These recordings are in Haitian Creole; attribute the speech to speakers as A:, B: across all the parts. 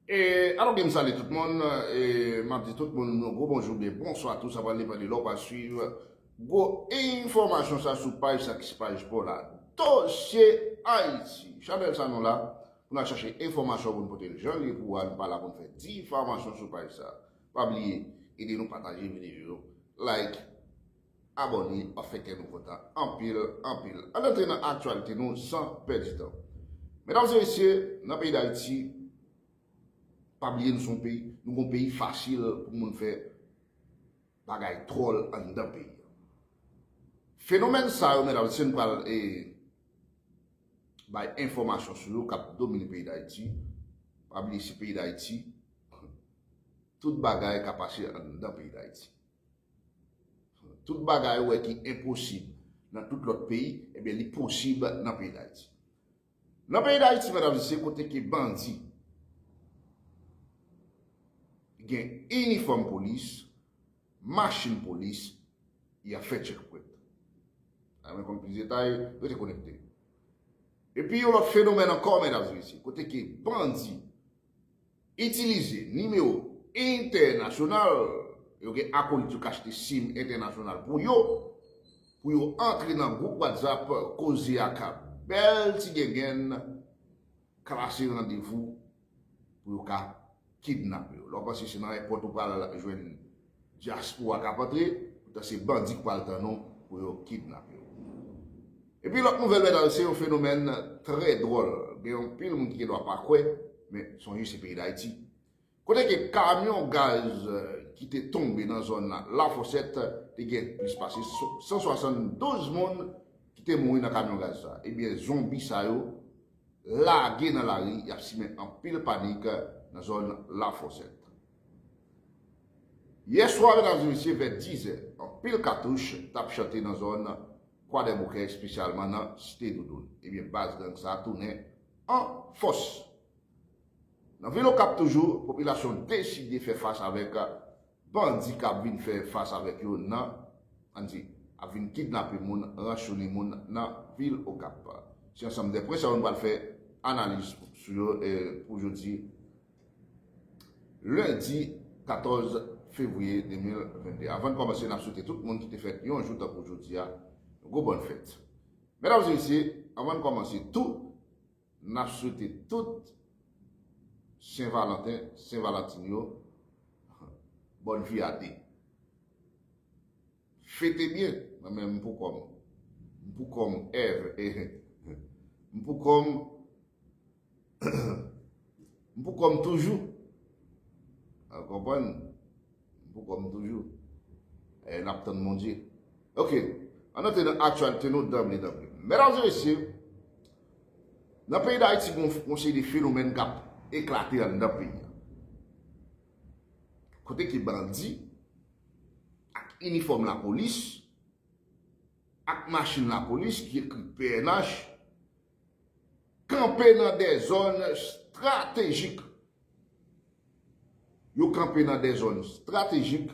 A: E alò gen m sale tout moun e m ap di tout moun yon gwo bonjou oubyen bonswa tou sa pral depan de lè w pa swiv gwo enfòmasyon sa sou paj sa ki se paj pa w la Dosye Ayiti chanèl sa nou la pou n al chache enfòmasyon pou n pote l jan l ye pou ou a nou pa la pou n fè difamasyon sou paj sa pa bliye ede nou pataje videyo yo like. Abòne an fè kè nou kontan anpil anpil. Ann antre nan aktyalite nou san pèdi tan. Medam e mesye, nan peyi Dayiti, pa bliye nou se yon peyi, nou gon peyi fasil pou moun fè bagay twòl anndan peyi an. Fenomèn sa yo medam e mesye nou pral bay enfòmasyon sou yo k ap domine peyi Dayiti. Pa bliye se peyi Dayiti, tout bagay ka pase anndan peyi Dayiti. Tout bagay ou wè ki enposib nan tout lòt peyi, ebyen li posib nan peyi Dayiti. Nan peyi Dayiti, medam zisye, kote ke bandi gen inifòm polis, machin polis, y ap fè tchekpwèt. A mwen konn plis detay, rete konekte. Epi yon lòt fenomèn ankò, medam zisye, kote ke bandi. Itilize nimewo entènasyonal, yo gen akolit yo k achte sim entènasyonal pou yo, pou yo antre nan gwoup whatsapp koze a ka bèl ti gengenn klase randevou pou yo ka kidnape yo. Lè w panse se nan èpòt ou pral jwenn Diaspora kap antre, poutan se bandi k pral tann ou pou yo kidnape w. Epi lòt nouvèl mètdam se yon fenomèn trè dwòl, gen anpil moun ki gen dwa pa kwè, men sonje se peyi Dayiti. Kote ke kamyon gaz ki te tonbe nan zòn Lafosèt te gen plis pase 172 moun ki te mouri nan kamyon gaz sa. Ebyen zonbi sa yo lage nan lari yap simen anpil panik nan zòn Lafosèt. Yè swa medam e mesye vè 10 zè anpil katouch tap chante nan zòn kwadèboukè espesyalman nan site doudoun ebyen baz gang sa tounen an fòs nan vil okap toujou popilasyon deside fè fas avèk bandi kap vin fè fas avèk yo nan ann di ap vin kidnape moun ranchounen moun nan vil okap se ansanm de pwen sa yo nou pral fè analiz sou yo pou jodi. Lendi 14 fevriye 2022 avan n kòmanse n ap swete tout moun ki te fèt yon jou tankou jodi a yon gwo bòn fèt. Medam e mesye avan n kòmanse tou n ap swete tout sen valanten, sen valantin yo bòn vi a de. Fete byen, mwen menm m pou kò m. M pou kò m ev eh. M pou kò m M pou kò m toujou. Ou konprann? M pou kò m toujou. E n ap tann Bondye. Ok, ann antre nan aktyalite nou danble danble. Medam e mesye, nan peyi Dayiti gen yon seri de fenomèn k ap eklate anndan peyi a. Kote ke bandi. ak inifòm lapolis, ak machin lapolis ki ekri pnh, kanpe nan de zòn estratejik. Yo kanpe nan de zòn estratejik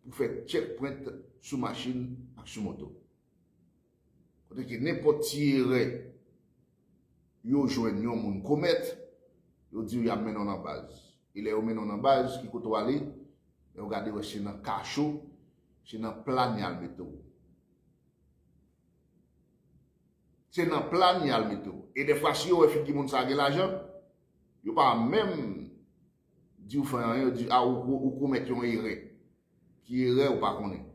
A: pou fè tchèkpwent sou machin ak sou moto. Kote ke nenpòt ti erè yo jwenn yon moun komèt, yo di yo yap mennen w nan baz. E lè yo mennen w nan baz, ki kote w ale? Lè yo gade wè se nan kacho, se nan plàn yal mete w. Se nan plàn yal mete w. E dèfwa si yo wè figi moun sa gen lajan, yo pa menm. Diw fè anyen yo di a ou komèt yon erè. Ki erè ou pa konnen.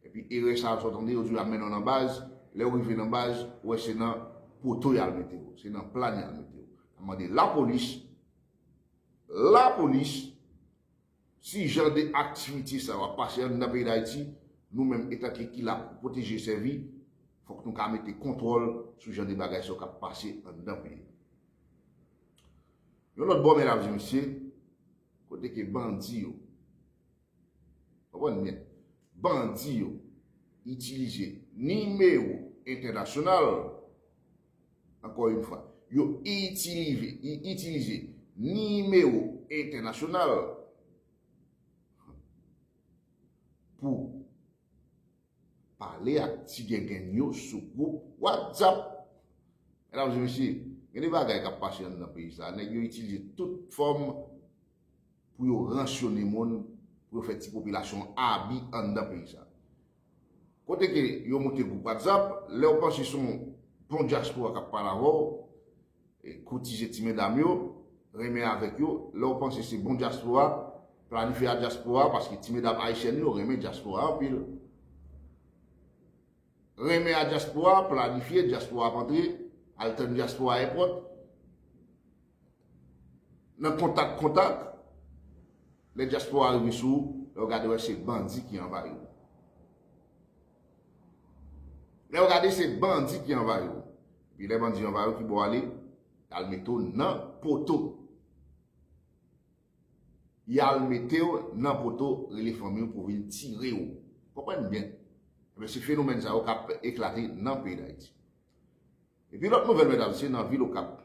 A: Epi erè sa sot anyen yo diw yap mennenw nan baz, lèw rive nan baz ou wè se nan poto yal metew, se nan plan yal metew. Map mande lapolis, lapolis si jan de aktivite sa yo ap pase anndan peyi dayiti nou menm etanke ki la pou pwoteje sèvi fok nou ka mete kontwòl sou jan de bagay sa yo kap pase anndan peyi. Yon lòt bò men lap di misye kote ke bandi yo konprann byen bandi yo itilize nimewo entènasyonal ankò yon fwa yo itilize nimewo entènasyonal pou Pale ak ti gengenn yo sou gwoup whatsapp. Medam e mesye, gen de bagay kap pase an nan peyi sa, nèg yo itilize tout fòm pou yo ransyone moun, pou yo fè ti popilasyon an abi an nan peyi sa. Kote ke yo moute gwoup whatsapp, lèw panse son bon dyaspora kap pale avèw, Koutije ti medam yo renmen avek yo lè ou panse se bon dyaspora planifye a dyaspora paske ti medam ayisyèn yo renmen dyaspora anpil renmen a dyaspora planifye dyaspora ap antre al tann dyaspora èpòt nan kontak kontak lè dyaspora rive sou ou lè ou gade wè se bandi ki anvayi ou. Lè yo gade se bandi ki anvayi yo. Epi lè bandi anvayi yo ki bo ale? Y al mete w nan poto. Y al mete w nan poto rele fanmi w pou vin tire w. Konprann byen. Ebyen se fenomèn sa yo k ap eklate nan peyi Dayiti. Epi lòt nouvèl medam se nan vil okap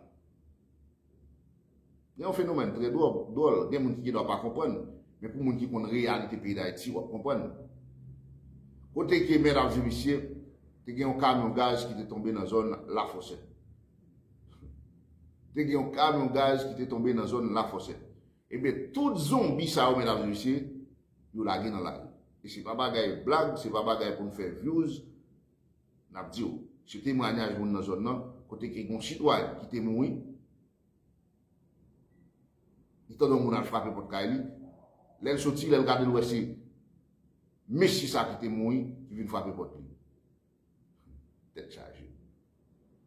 A: gen yon fenomèn trè dwòl gen moun ki gen dwa pa konprann men pou moun ki konn reyalite peyi dayiti wap konprann kote ke medam e mesye te gen yon kamyon gaz ki te tonbe nan zòn lafòsè te gen yon kamyon gaz ki te tonbe nan zòn lafòsè ebyen tout zonbi sa yo medam e mesye yo lage nan lari e se pa bagay blag se pa bagay pou nou fè vyouz N ap di w, se temwanyaj moun nan zòn nan kote gen yon sitwayen ki te mouri, li tande yon moun al frape pòt kay li, lè l soti, lè l gade l wè se mesye sa ki te mouri ki vin frape pòt li. Tèt chaje.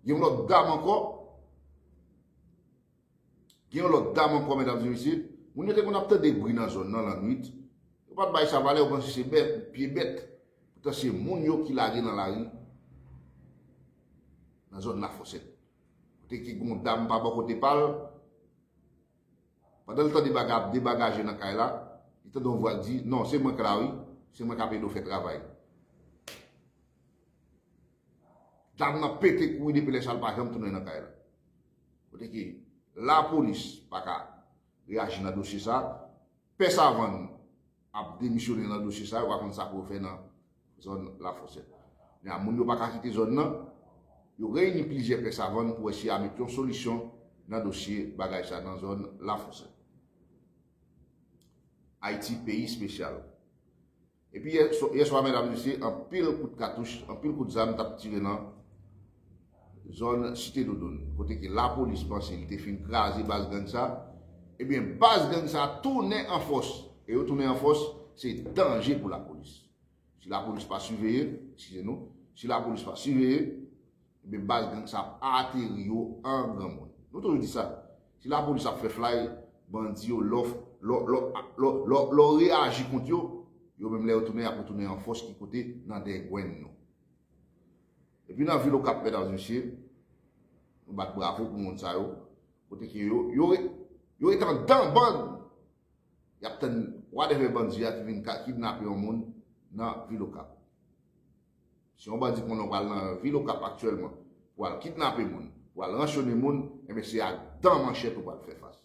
A: Gen yon lòt dam ankò. Gen yon lòt dam ankò medam e mesye, moun yo te konn ap tande bri nan zòn nan lannwit, yo pat bay sa valè yo panse se bèt, pye bèt, poutan se moun yo ki lage nan lari nan zòn Lafosèt. Kote ki gen yon dam pa bò kote pa l, pandan l tande bagay ap debagaje nan kay la, li tande yon vwa k di, non se mwen k la wi, se mwen k ap ede w fè travay. Dam nan pete kouri depi lè sa l pa janm tounen nan kay la. Kote ke la polis pa ka reyaji nan dosye sa, pè savann ap demisyone nan dosye sa, yo pa konn sa pou yo fè nan zòn la fosèt. Kounye a moun yo pa ka kite zòn nan, yo reyini plizyè pè savann pou wè si ya met yon solisyon nan dosye bagay sa nan zòn la fosèt. Ayiti peyi spesyal. Epi yè swa medam mesye anpil kout katouch, anpil kout zam t ap tire nan zòn Site Doudoun kote ke lapolis panse li te fin kraze baz gang sa, ebyen baz gang sa tounen an fòs e yo tounen an fòs se danje pou lapolis. Si lapolis pa siveye, eskize nou, si lapolis pa siveye, Ebyen baz gang sa ap ateri yo an granmoun. Nou toujou di sa. Si lapolis ap fè flay, bandi yo lò lò reyaji kont yo, yo menm lè yo tounen yap retounen an fòs ki kote nan dengwenn nou. Epi nan vil okap medam mesye, nou bat bravo pou moun sa yo, kote ke yo, yo ret an dan band, yap tann wadèvè bandi a ki vin kidnape yon moun nan vil okap. Si yon bandi konnen w pral nan vil Okap aktyèlman pou al kidnape moun, pou al ranchone moun, enben se ak dan manchèt ou pral fè fas.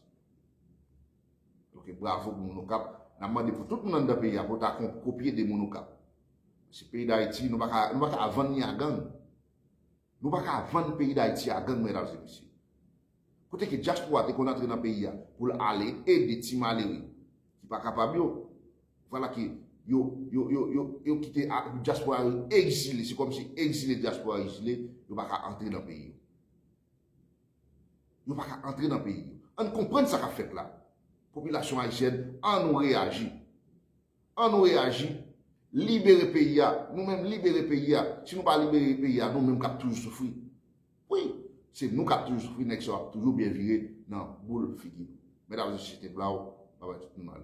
A: Donk bravo pou moun Okap, n ap mande pou tout moun anndan peyi a pou yo ta kopye de moun Okap. Paske peyi Dayiti, nou pa ka vann ni a gang. Nou pa ka vann peyi Dayiti a gang medam e mesye. Kote ke dyaspora te konn antre nan peyi a pou l ale ede ti malere ki pa kapab yo. Vwala ke yo, yo, yo, yo, yo kite a, dyaspora yo egzile, se kòm si egzile dyaspora egzile, yo pa ka antre nan peyi yo. Yo pa ka antre nan peyi yo. Ann konprann sa k ap fèt la. Popilasyon ayisyèn, an nou reyaji. An nou reyaji. Libere peyi a. Nou menm libere peyi a. Si nou pa libere peyi a, nou menm k ap toujou soufri. Wi, se nou kap toujou soufri nèg sa yo ap toujou byen vire nan boul figi nou. Mèt avèk sosyete blaw pa bay tout moun mal.